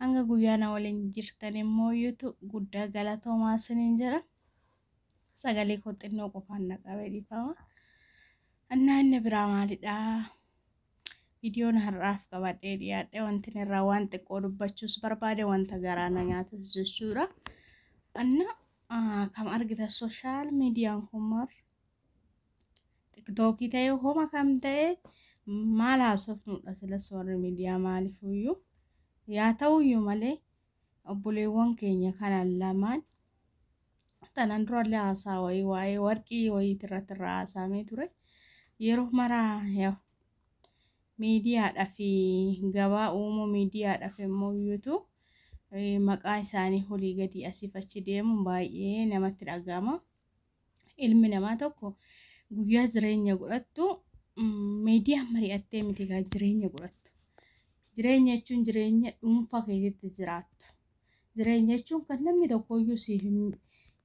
Hanga guyyaa na waliin jirtan immoo iyyuutu guddaa galatoomaa isiniin jedha. Sagalee koo xinnoo qofaan na qabee dhiifama. Annaa inni biraa maalidhaa? Viidiyoon har'aaf qabadhee dhiyaadhe wanti inni irraa waan xiqqoo dubbachuus barbaade wanta garaa na nyaatas jechuudha. Anna kam argita sooshaal miidiyaan kun maal tiktookii ta'e homa kam ta'e maal haasofnuudha silas warri miidiyaa maalifuyyuu yaa ta'uyyuu malee obboleewwan keenya kana lamaan tanan durallee haasaa wayii waa'ee warqii wayiiti irratti irraa haasaamee ture yeroo maraa yaa miidiyaadhaa fi gabaa uumuu miidiyaadhaa fi immoo iyyuutu maqaa isaanii olii gadi asiif achi deemuun baay'ee namatti dhaga'ama. ilmi namaa tokko guyyaa jireenya godhattu miidiyaan mari'attee miti kan jireenya godhattu. Jireenya jechuun jireenya dhuunfaa keessatti jiraattu. Jireenya jechuun kan namni tokkoyyuu si hin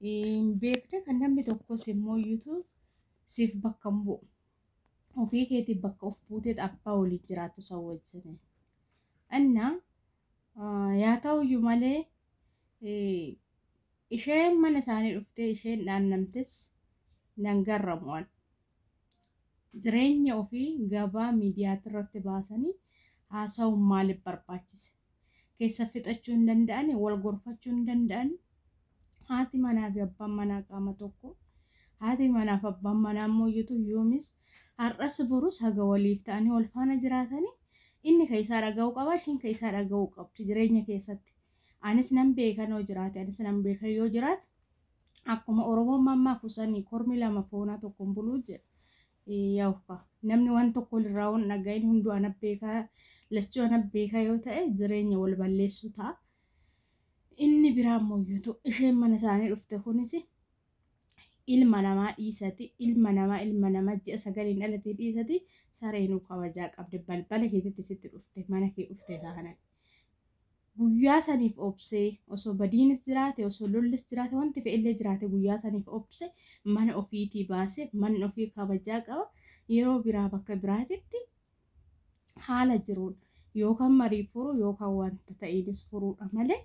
hin beekne kan namni tokkos immoo iyyutu siif bakka hin bu'u. Ofii keetiif bakka of buuteet abbaa waliin jiraattu isa wajjin. Anna yaa ta'uyyuu malee Isheen mana isaanii dhuftee isheen dhaannamtes nan garramu an. Jireenya ofii gabaa miidiyaatirratti baasanii haasawuun maaliif barbaachise? Keessa fixachuu hin danda'anii? Wal gorfachuu hin danda'anii? Haati manaa fi abbaan manaa qaama tokko. Haati manaa fi abbaan manaa immoo yutu yoomis har'as borus haga waliif ta'anii wal faana jiraatanii inni ka isaa dhaga'uu qaba ishiin ka isaa dhaga'uu qabdi jireenya keessatti. anis nan beeka noo jiraate anis nan beeka yoo jiraate akkuma oromoon mammaaku sanii kormi lama foonaa tokkoon buluu jedha yawka namni waan tokko irraa waan dhagahin hunduu ana beekaa lachuu ana beekaa yoo ta'e jireenya wal balleessuu ta'a. Inni biraa immoo yuutu isheen mana isaanii dhufte kunis ilma namaa dhiisati ilma namaa ilma namaa ji'a sagaliin dhalatee dhiisati sareenuu kabajaa qabde balbala keetitti sitti dhufte mana kee dhufte taanani. Guyyaa saniif obsee, osoo badiinis jiraate, osoo lollis jiraate, wanti fe'ellee jiraate guyyaa saniif obse, mana ofiitii baase, manni ofii kabajaa qaba, yeroo biraa bakka biraatitti haala jiruun yookaan marii furuu yookaan wanta ta'eenis furuudha malee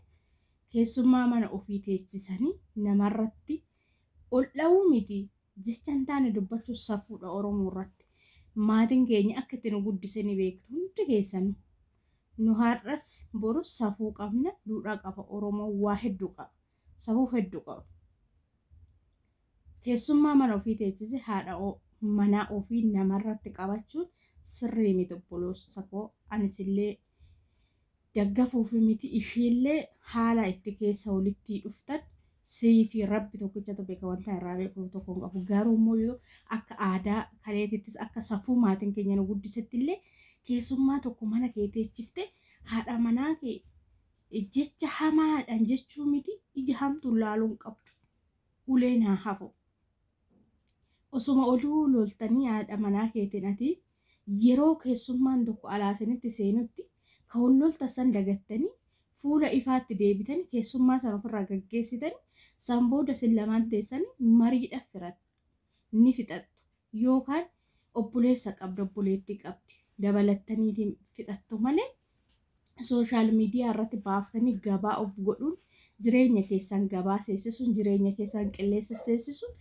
keessummaa mana ofii teessisanii namarratti Ol dhawuu miti jecha hin taane dubbachuun safuudha Oromoo irratti. Maatiin keenya akka itti nu guddise ni beektu hundi keessanuu. Nu har'as borus safuu qabna, duudhaa qaba Oromoon waa hedduu qaba. Safuuf hedduu qaba. Keessummaa mana ofii teechise haadha manaa ofii namarratti qabachuun sirrii miti obboloosakoo anis illee daggafuufi miti ishiillee haala itti keessa walittii dhuftan siifi rabbi tokkichatu beeka wantan irraa beeku tokko hin qabu garuu immoo yoo akka aadaa kaleetittis akka safuu maatin keenya nu guddisettillee keessummaa tokko mana kee teechifte haadha manaa kee jecha hamaadhan jechuu miti ija hamtuun laaluu hin qabdu uleen haa hafu osuma oluu loltanii haadha manaa keetin ati yeroo keessummaan tokko alaa isinitti seenutti ka wal loltan san dagattanii fuula ifaatti deebitanii keessummaa san ofirraa gaggeessitanii san booda isin lamaan teessanii mariidhaf firattu, ni fixattu yookaan obboleessa qabda obboleettii qabdi dabalattaniiti fixattu malee sooshaal miidiyaa irratti baaftanii gabaa of godhuun jireenya keessan gabaa seessisuun jireenya keessan qilleensa seessisuun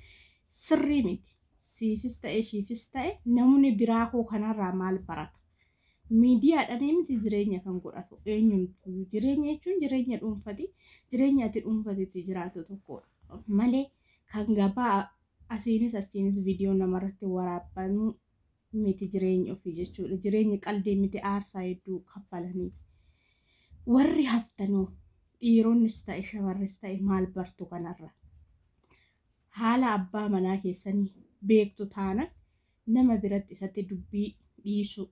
sirrii miti. Siifis ta'e ishiifis ta'e namni biraa hoo kanarraa maal barata? Miidiyaadhaan miti jireenya kan godhatu eenyumtu jireenya jechuun jireenya dhuunfati jireenya ati dhuunfatitti jiraatu tokkodha. Malee kan gabaa asiinis achiinis viidiyoo namarratti waraabbanuu miti jireenyi ofii jechuudha. Jireenyi qaldii miti aarsaa hedduu kaffalaniif. Warri haftanoo dhiironnis ta'e shamarris ta'e maal bartu kanarra? Haala abbaa manaa keessanii beektu taana nama biratti isatti dubbii dhiisuu.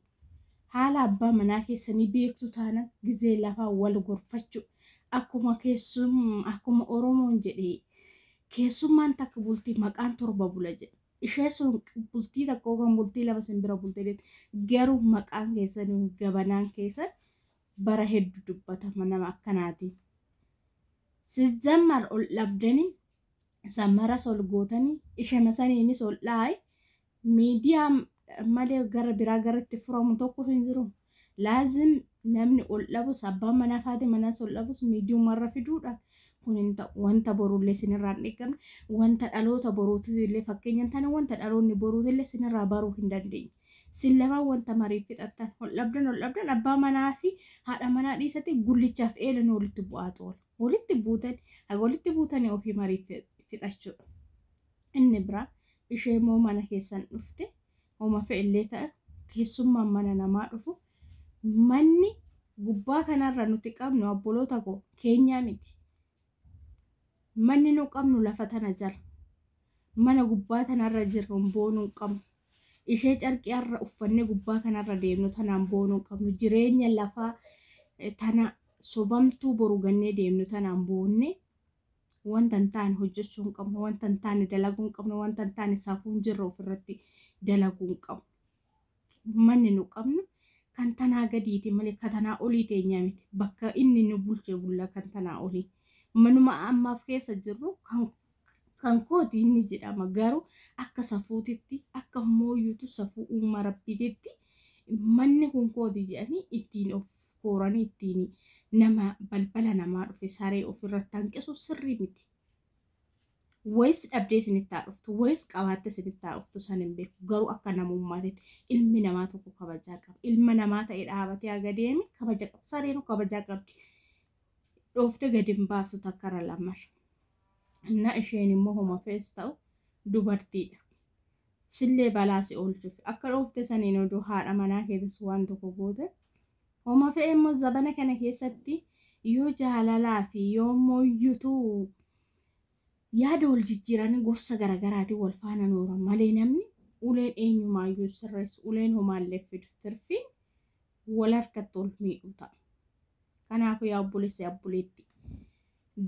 Haala abbaa manaa keessanii beektu taana gizee lafaa wal gorfachuu. Akkuma keessum akkuma Oromoon jedhee keessummaan takka bultii maqaan torba bula jedha. Ishee sun bultii takka yookaan bultii lama sin bira bulte beekta. Garuu maqaan keessan gabanaan keessan bara heddu dubbatama nama akkanaatiin. Sijammar ol dhabdanii samaras ol gootanii ishema saniinis ol dhaayi miidiyaa malee gara biraa gara itti furamu tokko hin jiru. Laazim namni ol dhabus abbaan manaa faati manaas ol dhabus miidiyuma irra fiduudhaan kun hin ta'u. Wanta boruullee isinirraa hin eeggamne, wanta dhaloota boruutiillee fakkeenya hin taane, wanta dhaloonni boruutiillee isinirraa baruu hin dandeenye. Isin lamaan wanta mariif fixattan, ol dhabdan ol dhabdan abbaa manaa fi haadha manaa dhiisatii gullichaaf eelan walitti bu'aatu oola. Walitti buutan haga walitti buutanii ofii mariif fixachuudha. Inni biraa ishee immoo mana keessan dhufte Homa fe'ellee ta'e keessummaan mana namaa dhufu manni gubbaa kanarra nuti qabnu abboloota koo keenyaa miti. Manni nu qabnu lafa tana jala. Mana gubbaa tanarra jirruun boonuu hin qabnu. Ishee carqii har'a uffannee gubbaa kanarra deemnu tanaan boonuu hin qabnu. Jireenya lafaa tana sobamtuu boru gannee deemnu tanaan boonnee Wanta hin taane hojjechuu hin qabnu, wanta hin taane dalaguu hin qabnu, wanta hin taane safuu hin jirre ofirratti dalaguu hin qabnu. Manni nu qabnu kan tanaa gadiiti malee kan tanaa olii teenyaa miti. Bakka inni nu bulchee bulla kan tanaa olii. Manuma ammaaf keessa jirru kan kan kooti inni jedhama garuu akka safuutitti akka mooyyuutu safuu uuma rabbiititti Manni kun kooti jedhanii ittiin of kooranii ittiin nama balbala namaa dhufe saree ofirratti hanqisu sirrii miti. Wayis dhabdee isinitti haa dhuftu, wayis qabaattee isinitti haa dhuftu san hin beeku. Garuu akka namummaatitti ilmi namaa tokko kabajaa qaba. Ilma namaa ta'ee dhaabatee haga deeme kabaja qaba. Sareenuu kabajaa qabdi. Dhooftee gadi hin baaftu takkara lamarra. Innaa isheen immoo homa fees ta'u dubartiidha. sillee balaa si oolchuuf akka dhoofte saniin odoo haadha manaa keetis waan tokko goote homa fe'e immoo zabana kana keessatti yoo jaalalaa fi yoo immoo yutuu yaada wal jijjiiranii gorsa garagaraatiin wal faana nooran malee namni uleen eenyumaayyuu sirreessu uleen homaallee fidu tirfiin wal harkatti ol miidhuu ta'a. Kanaafuu yaa obboleessa yaa obboleetti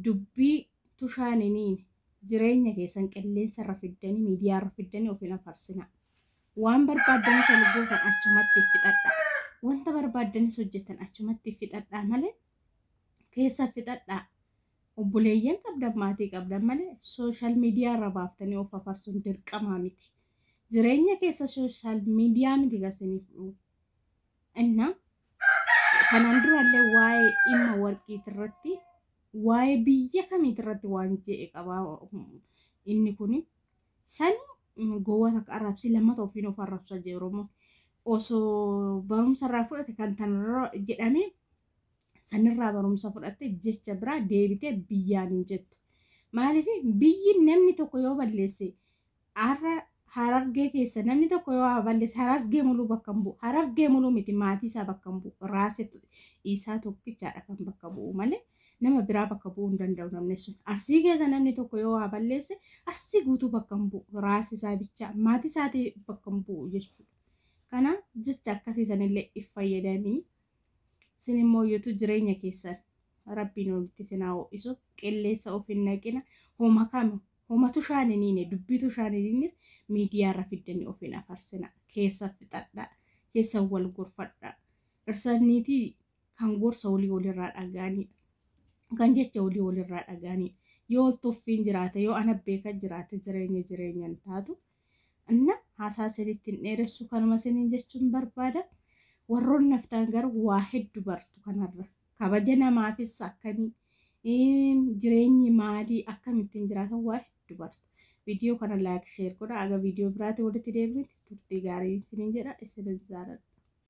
dubbii tushaa niniin jireenya keessan qilleensa irra fiddanii miidiyaa irra fiddanii of hin afarsinaa. Waan barbaaddanis ol gootan achumatti fixadhaa. Wanta barbaaddanis hojjetan achumatti fixadhaa malee keessa fixadhaa. Obboleeyyan qabdan maatii qabdan malee sooshaal miidiyaa irra baaftanii of afarsuun dirqamaa miti. Jireenya keessa sooshaal miidiyaa miti gasiniif dhufu. እና kanaan duraallee waa'ee dhimma warqiit irratti waa'ee biyya kamiit irratti waan je'e qabaa inni kun san gowwaa takka arrabsii lammata ofiin of arrabsa jee oromoon osoo barumsa irraa fudhate kan tanarra jedhamee sanirraa barumsa fudhatte jecha biraa deebitee biyyaan hin jettu maaliif biyyi namni tokko yoo balleesse Har'a Harargee keessa namni tokko yoo waa balleesse Harargee muluu bakka hin bu'u. Harargee muluu miti maatii isaa bakka hin bu'u. Raasee isaa tokkichaadha kan bakka bu'u malee nama biraa bakka bu'uu hin danda'u namni sun. Arsii keessa namni tokko yoo waa balleesse arsii guutuu bakka hin bu'u. Raasee isaa bichaa maatii isaatii bakka hin bu'u jechuudha. Kana jecha akkasii sanillee if fayyadamii sin immoo yotu jireenya keessan rabbiin olitti sin haa ho'isu qilleensa of hin naqina homa kami Homatu ishaan hin hiine dubbiitu ishaan hin hiinnes miidiyaa irra fiddanii of hin afarsinaa keessa fixadhaa keessa wal gorfadhaa dhirsa niitii kan gorsa olii wal irraa dhaga'aniidha kan jecha olii wal irraa dhaga'aniidha yoo wal tuffiin jiraate yoo ana beeka jiraate jireenya jireenya hin taatu Anna haasaa isinitti hin dheeressu kanuma isiniin jechuun barbaada. Warroon naftaan garuu waa heddu bartu kanarra. Kabaja namaafis akkamii jireenyi maalii akkamittiin jiraatan waa heddu bartu. Viidiyoo kana laayik sheer godha. Aga viidiyoo biraati walitti deebinutti turtii gaarii isiniin jedha isinin jaaladha.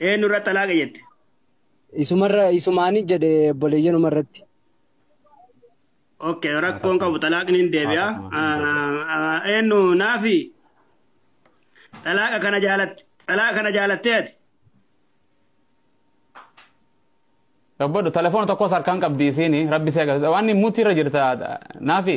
Eenyu irratti xalaaqa jette? Isumarra isumaanii jedhe obboleeyyanuma irratti. Okay, rakkoon qabu xalaaqni hin deebi'a. Eenyu naafi xalaaqa kana jaalatte xalaaqa kana jaalattee ati? Rabbadhu telefoona tokkos harkaan qabdi isiini rabbi si agarsiisa waan mutti irra jirta naafi.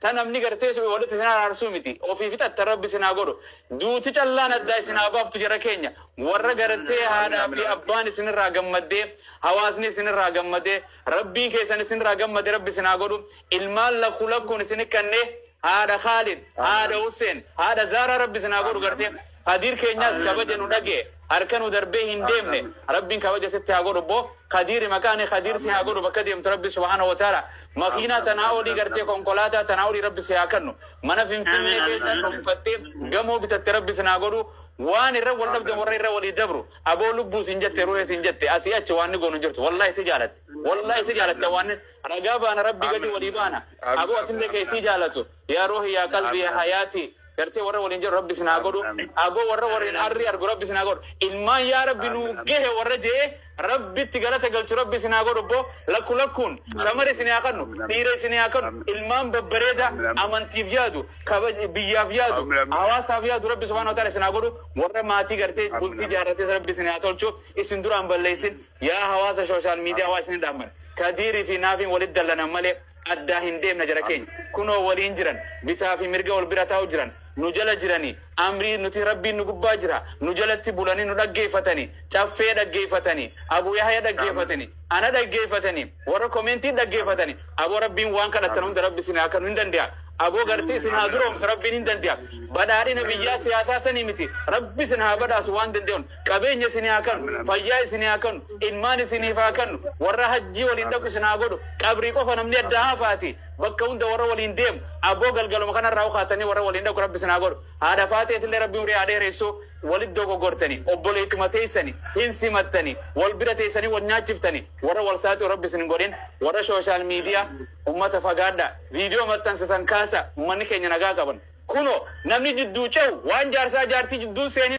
Ta namni gartee suphee walitti isin araarsu miti. Ofii fixattan Rabbi isin haa godhu. Duuti callaan addaa isin haa baaftu jara keenya. Warra gartee haadhaa fi abbaan isin irraa gammaddee, hawaasni isin irraa gammadee, Rabbiin keessan isin irraa gammade Rabbi isin haa godhu. Ilmaan lakku lakkuun isin hikkannee, haadha Khaalid, haadha Husseen, haadha Zaaraa Rabbi isin haa godhu gartee. Kadiir keenyaas kabaja nu dhage harka nu darbee hin deemne rabbiin kabaja sitti haa godhu boo kadiiri maqaani kadiir si haa godhu bakka deemtu rabbi subhaana wataala makiinaa tanaa olii gartee konkolaataa tanaa olii rabbi si haa kannu mana finfinnee keessa dhunfattee gamoo bitatte rabbi sin haa godhu waan irra wal dhabdan warra irra walii dabru aboo lubbuu sin jette ruhee sin jette asii achi waan ni goonu jirtu wallaahi si jaalatte wallaahi si jaalatte waan ragaa baana rabbi gadi walii baana aboo atillee kee si jaalatu yaa ruhi yaa qalbi yaa hayaati gartee warra waliin jiru rabbi isin haa godhu aboo warra waliin arri argu rabbi isin haa godhu ilmaan yaa rabbi nuu gahe warra jee rabbitti galata galchu rabbi isin haa godhu boo lakku lakkuun shamara isin haa kannu dhiira isin haa kannu ilmaan babbareeda amantiif yaadu kabaj biyyaaf yaadu hawaasaaf yaadu rabbi subhaanahu wa ta'ala isin haa godhu warra maatii gartee bultii jaarrates rabbi isin haa tolchu isin duraan balleessin yaa hawaasa sooshaal miidiyaa waa isin dhaamman kadiirii fi naafiin walitti dallanan malee Addaa hin deemna jara keenya. Kunoo waliin jiran. Bitaa fi mirga wal bira taa'u jiran. Nu jala jirani. Amrii nuti Rabbiin nu gubbaa jira. Nu jalatti bulani nu dhaggeeffatani. Caffee dhaggeeffatani. Abu Yahya dhaggeeffatani. Ana dhaggeeffatani. Warra commentiin dhaggeeffatani. Aboo Rabbiin waan kadhattan hunda Rabbi isin haa kanu hin dande'a. Aboo gartee isin haa duroomsu Rabbiin hin dande'a. Badhaadhina biyyaa siyaasaa sanii miti. Rabbi isin haa badhaasu waan dande'un. Qabeenya isinii haa kanu fayyaa isinii haa kanu ilmaan isiniif haa kannu warra hajjii waliin dhaqu isin haa godhu qabrii qofa namni addaa hafaatii bakka hunda warra waliin deemu aboo galgaluma kanarraa ukaatanii warra waliin dhaqu rabbi isin haa godhu haadha faaxeetillee rabbi umrii haa dheeressu walit dogogortanii obboleetuma teessani hin simattanii wal bira teessanii wal nyaachiftanii warra wal saaxiu rabbi isin hin godhin warra shooshaal miidiyaa ummata fagaadhaa viidiyoo maxxansatan kaasa ummanni keenya nagaa qaban kuno namni jidduu cehu waan jaarsaa jaartii jidduun seenin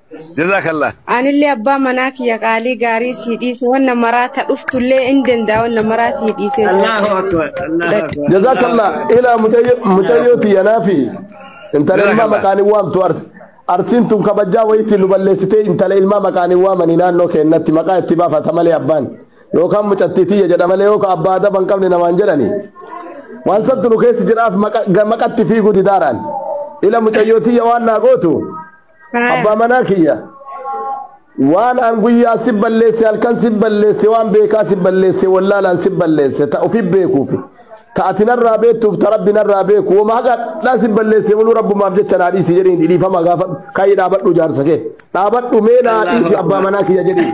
Jazakallah. Anillee abbaa manaa kiyya qaalii gaarii sii dhiise wanna maraa ta dhuftullee in danda'a wanna maraa sii dhiisee sii Allahu akbar. Allahu fudhadhu. akbar. Jazakallah. Ilaa mucayyoo mucayyoo tiyyanaa fi intala ilmaa Jazakallah. maqaan hin waamtu arsi. Arsiin tun kabajaa wayiitti nu balleessitee intala ilmaa maqaan hin waamanii naannoo keennatti maqaa itti baafata malee abbaan. Yookaan mucattii tiyya jedha malee yookaan abbaa adaba hin qabne namaan jedhani. Waan sabtu nu keessa jiraaf maqa- ga- maqatti fiiguu didaaraan. Ila mucayyoo tiyya waan naa gootu Abbaa manaa kiyya waan an guyyaa si balleesse halkan si balleesse waan beekaa si balleesse wallaalaan si balleesse ta ofi beekuufi ta ati narraa beektuuf ta rabbi narraa beeku wama haqadhaa si balleesse buluu rabbumaaf jecha naa dhiisi jedhiin dhiifama gaafadhu kaayii dhaabadhu jaarsa kee dhaabadhu mee naa dhiisi abbaa manaa kiyya jedhiin.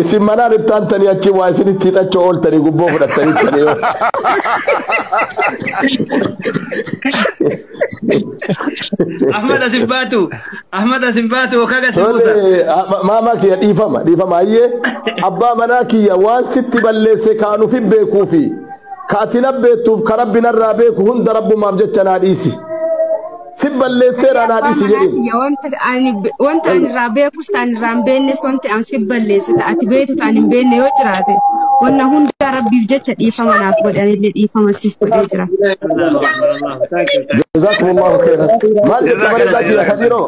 Isin manaan itti aantanii achi waa isinitti hidhachuu ooltanii gubboo fudhattanii tanii yoo. Ahmad asin baatu. Ahmad asin baatu okaa gasi buusa. Tole, a- ma- maamaa kiyya dhiifama dhiifama ayyee abbaa manaa kiyya waan sitti balleesse kaanuuf hin beekuu fi ka ati na beektuuf ka rabbi narraa beeku hunda rabbumaaf jecha naa dhiisi. si balleesseera anaa dhiisi jedhin. Wanta ani wanta ani irraa beekus ta'an irraa hin beeknes wanti an si balleesse ta'a ati beektu ta'an hin beekne yoo jiraate wanna hundaa rabbiif jecha dhiifama naaf godhe anillee dhiifama siif godhee jira. Allahu akbar Allahu thank you thank Jazaakumullahu khairan. Maal jetta bareedaa kiyya Kadiiroo?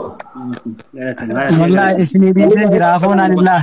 you. Wallahi isinii dhiisee jira afoonaan illaa.